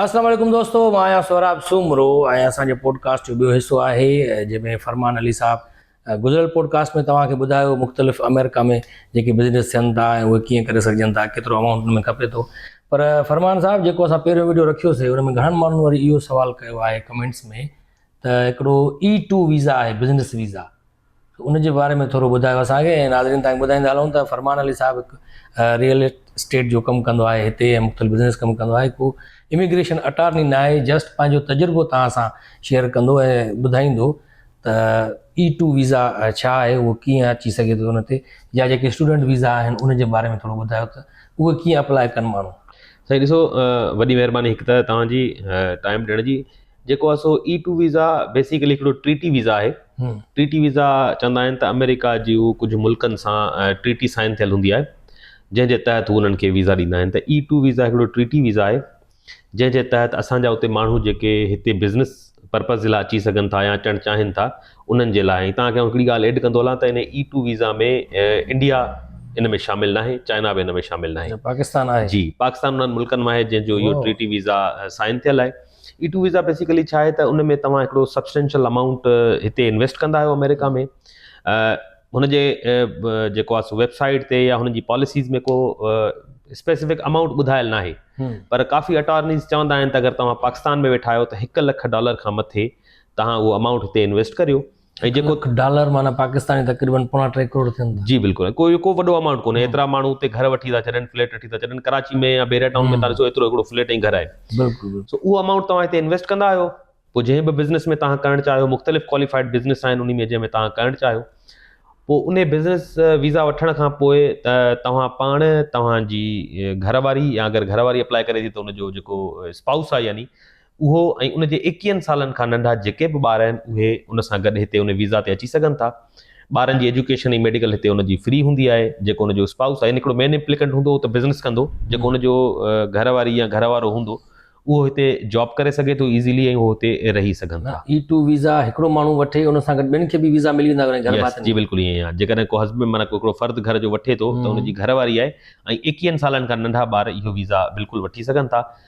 السلام عليڪم دوستو مان آهيان سهراب سومرو ۽ اسان جي پوڊڪاسٽ جو ٻيو حصو آهي جنهن ۾ فرمان علي صاحب گذريل پوڊڪاسٽ ۾ توهان کي ٻڌايو مختلف آمريڪا ۾ جيڪي بزنس ٿين ٿا ۽ اهي ڪيئن ڪري سگهجن ٿا ڪيترو امائونٽ ان ۾ کپي ٿو پر فرمان صاحب جيڪو اسان پهريون ويڊيو رکيوسي ان ۾ گهڻن ماڻهن وري اهو سوال ڪيو آهي ڪمينٽس ۾ ته هڪڙو اي ٽو ويزا آهي بزنس ويزا ان جي باري ۾ ٿورو ٻڌايو اسان کي ۽ ناظرين تائين ٻڌائيندا هلون ته فرمان علي صاحب هڪ ريئل اسٽيٽ جو ڪم ڪندو آهي هتي ۽ مختلف بزنس ڪم ڪندو آهي ڪو اميگريشن اٽارني نه آهي جسٽ پنهنجو تجربو توهان سان شيئر ڪندو ۽ ٻڌائيندو ته اي ٽو ويزا ڇا آهي اهو ڪيئن اچي سگهي ٿو ان تي يا جيڪي اسٽوڊنٽ ويزا آهن ان جي باري ۾ ٿورو ٻڌايو ته اهي ڪيئن اپلاء ڪن ماڻهو سائين ڏسو وڏي مهرباني هڪ ته توهان جي ٽائم ڏيڻ جي جيڪو آهي سو اي ٽو ويزا بيسڪلي هڪڙو ٽريٽي ويزا آهي ٽريٽي ويزا چوندا آهن ته آمريڪا جي هو ڪجهه ملڪن سان ٽريٽي سائن ٿيل هوندي آهي جنهن جي تحت هو انهن کي ويزا ڏيندا آهن ته اي ٽو ويزا هڪڙو ٽريٽي ويزا آهي جنهن جي تحت اسان جا اتي ماڻهو جيڪي هتي بزنس پرپز جي لاء اچي سگهن ٿا يا اچڻ چاهين ٿا انهن جي لاء توهان کي هڪڙي ڳالهه ايڊ ڪندو هلان ته ان اي ٽو ويزا ۾ انڊيا ان ۾ شامل نه آهي چائنا به ان ۾ شامل نه آهي پاڪستان آهي جي پاڪستان انهن ملڪن مان آهي جنهن جو اهو ٽريٽي ويزا سائن ٿيل آهي اي ٽو ويزا بيسيڪلي ڇا آهي ته ان ۾ توهان هڪڙو سبسٽينشل امائونٽ هتي انويسٽ ڪندا آهيو آمريڪا ۾ هن جي جيڪو آهي سو ويب سائيٽ تي يا هن جي پاليسيز ۾ ڪو اسپيسيفڪ امائونٽ ٻڌايل ناهي پر ڪافي اٽارنيز چوندا آهن ته اگر توهان پاڪستان ۾ ويٺا آهيو ته هڪ لک ڊالر کان مٿي توهان اهو امائونٽ هتي انويسٽ ڪريو ۽ جيڪو لک ڊالر معنيٰ پاڪستاني تقريبن پوڻا ٽي ڪروڙ ٿين ٿا. جي بلڪل ڪو اهو ڪو وڏو امائونٽ ڪونهي ايترا ماڻهو اتي گهر وٺي ٿا ڇڏن فليٽ وٺي ٿا ڇڏن ڪراچي ۾ يا بحريا ٽائون ۾ تان ڏسو ايترو هڪڙو فليٽ ۽ گهر آهي بلڪل بلڪل. سو اهو امائونٽ توهان هتي انويسٽ ڪندا آهيو پوء جنهن به بزنس ۾ توهان ڪرڻ چاهيو مختلف ڪواليفائيڊ بزنس آهن انهي ۾ جنهن ۾ توهان ڪرڻ چاهيو پوء انهي بزنس ويزا وٺڻ کان پوء ته توهان پاڻ توهان جي گهر واري يا اگر گهر واري اپلائي ڪري ٿي ته ان جو جيڪو اسپائوس آهي يعني اهو ۽ ان جي ايڪيهن سالن کان ننڍا جيڪي به ٻار آهن اهي ان سان گڏ هتي ان ويزا تي اچي سگهن ٿا. ٻارن جي ايجوڪيشن ۽ ميڊيڪل هتي ان جي فري هوندي آهي جيڪو ان جو اسپائوس آهي يعني هڪڙو مين ايمپليڪنٽ هوندو هو ته بزنس ڪندو جيڪو ان جو گهر واري يا گهر وارو هوندو اهو هتي جاب ڪري سگهي ٿو ايزلي ۽ اهو هتي رهي سگهن ٿا. اي ٽو ويزا هڪڙو ماڻهو وٺي ان سان گڏ ٻين کي به ويزا ملي ويندا آهن گهر ڀاتين کي. جي بلڪل ائين آهي جيڪڏهن ڪو هسبنڊ معنيٰ هڪڙو فرد گهر جو وٺي ٿو ته ان جي گهر واري آهي ۽ ايڪيهن سالن کان ننڍا ٻار اهو ويزا بلڪل وٺي سگهن ٿا.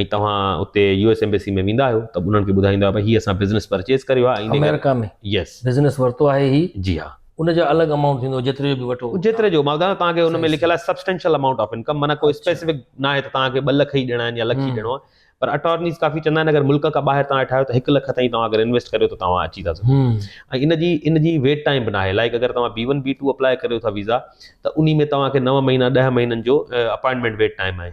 ۽ توهان اتي يو ايس ايمبيسي ۾ ويندا آهيو ته انهن کي ٻڌائيندا آهيو هي اسان بزنس پرچيز ڪريو آهي آمريڪا ۾ يس بزنس ورتو آهي هي جي ها ان جو الڳ امائونٽ ٿيندو جيتري جو به وٺو جيتري جو ماء ٻڌايو توهان کي ان ۾ لکيل آهي سبسٽينشل امائونٽ آف انڪم معنيٰ ڪو اسپيسيفڪ نه آهي ته توهان کي ٻه لک ئي ڏيڻا آهن يا لک ئي ڏيڻو آهي پر اٽارنيز ڪافي چوندا آهن اگر ملڪ کان ٻاهر توهان ويٺا آهيو ته هڪ لک تائين توهان اگر انويسٽ ڪريو ته توهان اچي ٿا سگهو ۽ ان جي ان جي ويٽ ٽائيم به نه آهي لائڪ اگر توهان B one B two apply ڪريو ٿا ويزا ته انهي ۾ توهان کي نو مهينا ڏهه مهينن جو اپائنٽمينٽ ويٽ ٽائيم آهي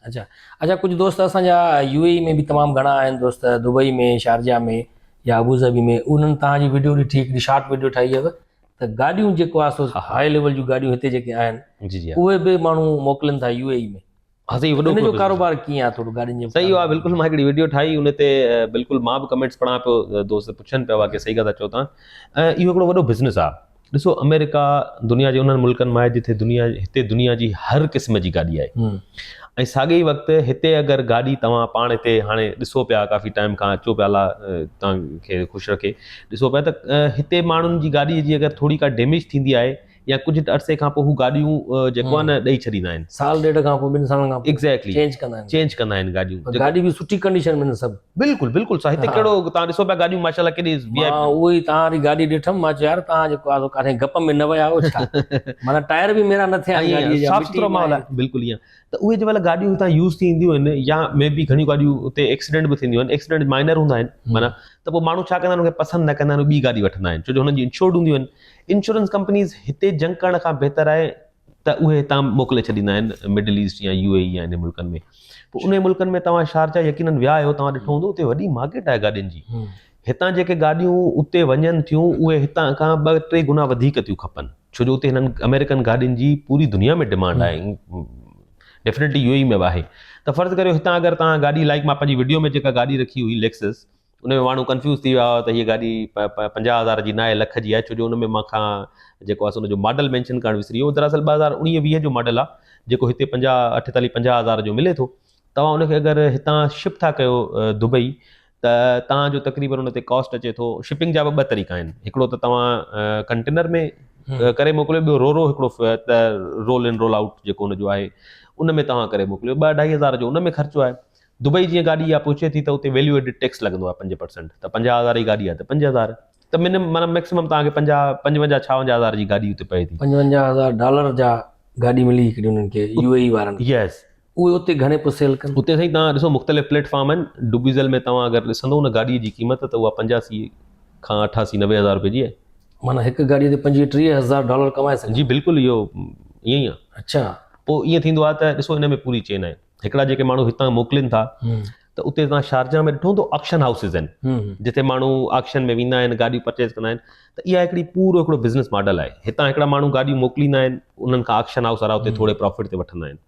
اچا اچا ڪجھ دوست اسان جا يو اي اي ۾ به تمام گھڻا آھن دوست دبئي ۾ شارجا ۾ يا ابوظھبي ۾ انھن تھان جي ويڊيو ڏٺي ھڪڙي شارٽ ويڊيو ٺاھي ھئي ته گاڏيون جيڪو آھي سو ھاء ليول جون گاڏيون ھتي جيڪي آھن اھي به ماڻھو موڪلين ٿا يو اي اي ۾ سھي وڏو ان جو ڪاروبار ڪيئن آھي ٿورو گاڏين جو سھي آھي بلڪل مان ھڪڙي ويڊيو ٺاھي ان تي بلڪل مان به ڪمينٽس پڙھان پيو دوست پڇن پيا ڪي سھي ڳالھ ٿا چئو تھان اھو ھڪڙو وڏو بزنس آھي ڏسو امريڪا دنيا جي انهن ملڪن مان آهي جتي دنيا هتي دنيا جي هر قسم جي گاڏي آهي ۽ ساڳي ئي وقت هتي اگر گاڏي توهان پاڻ هتي هاڻي ڏسو پيا ڪافي ٽائيم کان اچو پيا الا توهان کي خوش رکي ڏسو پيا ته هتي ماڻهن جي گاڏي جي اگر ٿوري ڪا ڊيميج ٿيندي آهي يا ڪجهه عرصي کان پوء هو گاڏيون جيڪو آهي نه ڏئي ڇڏيندا آهن سال ڏيڍ کان پوء ٻن سالن کان ايگزيڪٽلي چينج ڪندا آهن ايگزيڪٽلي چينج ڪندا آهن گاڏيون گاڏي به سٺي ڪنڊيشن ۾ سڀ بلڪل بلڪل سائين هتي ڪهڙو توهان ڏسو پيا گاڏيون ماشاء الله ڪيڏي وي آء پي مان اهو ئي توهان جي گاڏي ڏٺم مان چيو يار توهان جيڪو آ سو ڪاٿي گپ ۾ نه ويا آهيو ڇا معنيٰ ٽائر به ميرا نه ٿيا آهن ائين گاڏيء جا صاف مٽي سٿرو ۾ ماحول آهن آهي بلڪل ائين ته اهي جنهن مهل گاڏيون هتان يوز ٿي اينديون آهن يا مي بي گهڻيون گاڏيون اتي ايڪسيڊنٽ به ٿينديون آهن ايڪسيڊنٽ مائنر هوندا آهن معنيٰ ته پوء ماڻهو ڇا ڪندا آهن ان کي پسند نه ڪندا آهن ٻي گاڏي وٺندا آهن ڇو جو هنن جي انشورڊ هونديون آهن انشورنس ڪمپنيز هتي جنگ ڪرڻ کان بهتر آهي ته اهي هتان موڪلي ڇڏيندا آهن مڊل ايسٽ يا يو اي اي يا انهن ملڪن ۾ پوء انهن ملڪن ۾ توهان شارجا يقينن ويا آهيو توهان ڏٺو هوندو اتي وڏي مارڪيٽ آهي گاڏين جي هتان جيڪي گاڏيون اتي وڃن ٿيون اهي هتان کان ٻه ٽي گنا وڌيڪ ٿيون کپن ڇو جو اتي هنن آمريڪن گاڏين جي پوري دنيا ۾ ڊمانڊ آهي ڊيفنيٽلي يو اي اي ۾ به آهي ته فرض ڪريو هتان اگر توهان گاڏي لائڪ مان پنهنجي وڊيو ۾ جيڪا گاڏي رکي هئي ليڪسس ان ۾ ماڻهو ڪنفيوز ٿي ويا هئا ته هيء گاڏي پنجاهه هزار جي ناهي لک جي آهي ڇو جو ان ۾ مان کان جيڪو آهي سو ان جو ماڊل مينشن ڪرڻ وسري ويو دراصل ٻه هزار اڻيهه ويهه جو ماڊل آهي جيڪو هتي پنجاهه اٺيتاليهه پنجاهه هزار جو ملي ٿو توهان ان کي اگر هتان شپ ٿا ڪيو دبئي ته توهان جو تقريبن ان تي ڪاسٽ اچي ٿو شپنگ جا به ٻه طريقا آهن هڪڙو ته توهان ڪنٽينر ۾ ڪري موڪليو ٻيو رو رو هڪڙو رول ان رول آؤٽ جيڪو ان جو آهي ان ۾ توهان ڪري موڪليو ٻه اڍائي هزار جو ان ۾ خرچو آهي دبئي جيئن گاڏي اها پهچي ٿي ته اتي ويليو ايڊڊ ٽيڪس لڳندو آهي پنج پرسنٽ ته پنجاهه هزار جي گاڏي آهي ته پنج هزار ته منم معنيٰ مئڪسمم توهان کي پنجاهه پنجونجاهه ڇاونجاهه هزار جي گاڏي اتي پئي ٿي. پنجونجاهه هزار ڊالر جا گاڏي ملي هڪڙي انهن کي يو اي اي وارن کي يس اهي اتي گهڻي پئي سيل ڪن. اتي سائين توهان ڏسو مختلف پليٽ فارم آهن ڊوبيزل ۾ توهان اگر ڏسندو ان گاڏي جي قيمت ته اها پنجاسي کان اٺاسي نوي هزار روپيه جي آهي. معنيٰ هڪ گاڏي تي پنجويهه ٽيهه هزار ڊالر ڪمائي سگهن. جي بلڪل اهو ائين ئي آهي. اڇا. پوء ائين ٿيندو آهي ته ڏسو ان ۾ پوري چين آهي. هڪڙا جيڪي ماڻهو هتان موڪلين ٿا ته اتي تان شارجا ۾ ڏٺو ته آڪشن هائوسز آهن جتي ماڻهو آڪشن ۾ ويندا آهن گاڏيون پرچيز ڪندا آهن ته اها هڪڙي پورو هڪڙو بزنس ماڊل آهي هتان هڪڙا ماڻهو گاڏيون موڪليندا آهن انهن کان آڪشن هائوس وارا اتي ٿوري پرافٽ تي وٺندا آهن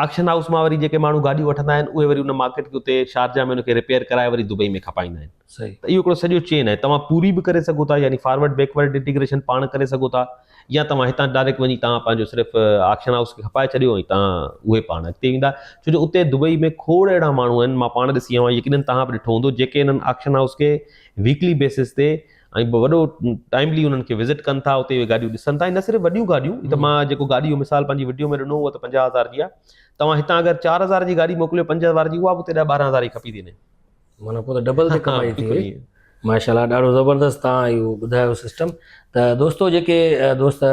آڪشن هائوس مان وري جيڪي ماڻهو گاڏيون وٺندا آهن اهي وري ان مارڪيٽ کي اتي شارجا ۾ ان کي ريپيئر ڪرائي وري دبئي ۾ کپائيندا آهن صحيح ته اهو هڪڙو سڄو چين آهي توهان پوري به ڪري سگهو ٿا يعني فارورڊ بيڪورڊ انٽيگريشن پاڻ ڪري سگهو ٿا يا توهان هتان ڊائريڪٽ وڃي تان پنهنجو صرف آڪشن هائوس کي کپائي ڇڏيو ۽ تان اهي پاڻ اڳتي ويندا ڇو جو اتي دبئي ۾ کوڙ اهڙا ماڻهو آهن مان پاڻ ڏسي آيو آهيان يقينن توهان به ڏٺو هوندو جيڪي انهن آڪشن هائوس کي ويڪلي بيسس تي ۽ وڏو ٽائملي انهن کي وزٽ ڪن ٿا اتي اهي گاڏيون ڏسن ٿا ۽ نه صرف وڏيون گاڏيون هي ته مان جيڪو گاڏي جو مثال پنهنجي وڊيو ۾ ڏنو هو ته پنجاهه هزار جي آهي توهان هتان اگر چار هزار جي گاڏي موڪليو پنج هزار جي اها به اتي ڏهه ٻارهن هزار جي کپي ٿي وڃي معنيٰ پوء ته ڊبل تي ڪمائي ٿي وئي ماشاء الله ڏاڍو زبردست تان اهو ٻڌايو سسٽم ته دوستو جيڪي دوست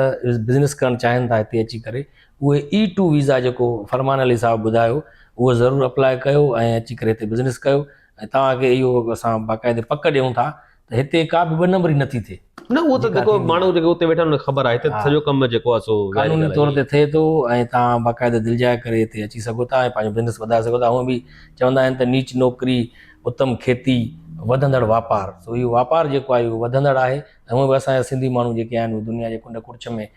بزنس ڪرڻ چاهين ٿا هتي اچي ڪري اهي اي ٽو ويزا جيڪو فرمان علي صاحب ٻڌايو اهو ضرور اپلاء ڪيو ۽ اچي ڪري هتي بزنس ڪيو ۽ توهان کي اهو اسان باقاعدي پڪ ڏيون ٿا ته هتي ڪا به ٻه نمبري نه ٿي ٿئي. نه اهو ته جيڪو ماڻهو جيڪو اتي ويٺا آهن ان کي خبر آهي هتي ته سڄو ڪم جيڪو آهي سو قانوني طور تي ٿئي ٿو ۽ تان باقاعده دلجاء ڪري هتي اچي سگهو ٿا ۽ پنهنجو بزنس وڌائي سگهو ٿا هونء به چوندا آهن ته نيچ نوڪري اتم کيتي وڌندڙ واپار سو اهو واپار جيڪو آهي اهو وڌندڙ آهي ۽ هونء به اسان جا سنڌي ماڻهو جيڪي آهن اهي دنيا جي ڪنڊ ڪڙڇ ۾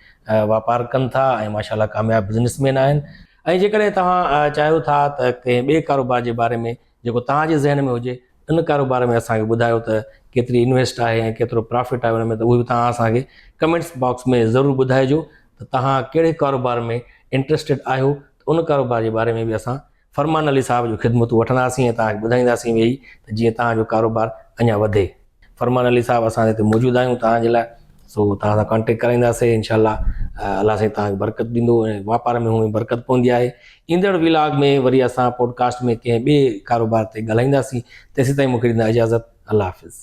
واپار ڪن ٿا ۽ ماشاء الله ڪامياب بزنس مين آهن ۽ جيڪڏهن توهان چاهيو ٿا ته ڪنهن ٻئي ڪاروبار جي باري ۾ جيڪو توهان جي ذهن ۾ هجي ان ڪاروبار ۾ اسان کي ٻڌايو ته ڪيتري انويسٽ آهي ۽ ڪيترو پرافٽ آهي ان ۾ ته اهو به توهان اسان کي ڪمينٽس باڪس ۾ ضرور ٻڌائجو ته توهان ڪهڙي ڪاروبار ۾ انٽرسٽيڊ آهيو ته ان ڪاروبار جي باري ۾ به اسان فرمان علي صاحب جون خدمتون وٺنداسين ۽ توهان کي ٻڌائينداسين ويهي ته جيئن توهان جو ڪاروبار اڃا وڌي. فرمان علي صاحب اسان هتي موجود آهيون توهان جي لاء سو توهان سان ڪانٽيڪٽ ڪرائينداسي انشاء الله الله سائين توهان کي برڪت ڏيندو ۽ واپار ۾ هونئن برڪت پوندي آهي ايندڙ ولاگ ۾ وري اسان پوڊڪاسٽ ۾ ڪنهن ٻئي ڪاروبار تي ڳالهائينداسين تيسين تائين مونکي ڏيندا اجازت الله حافظ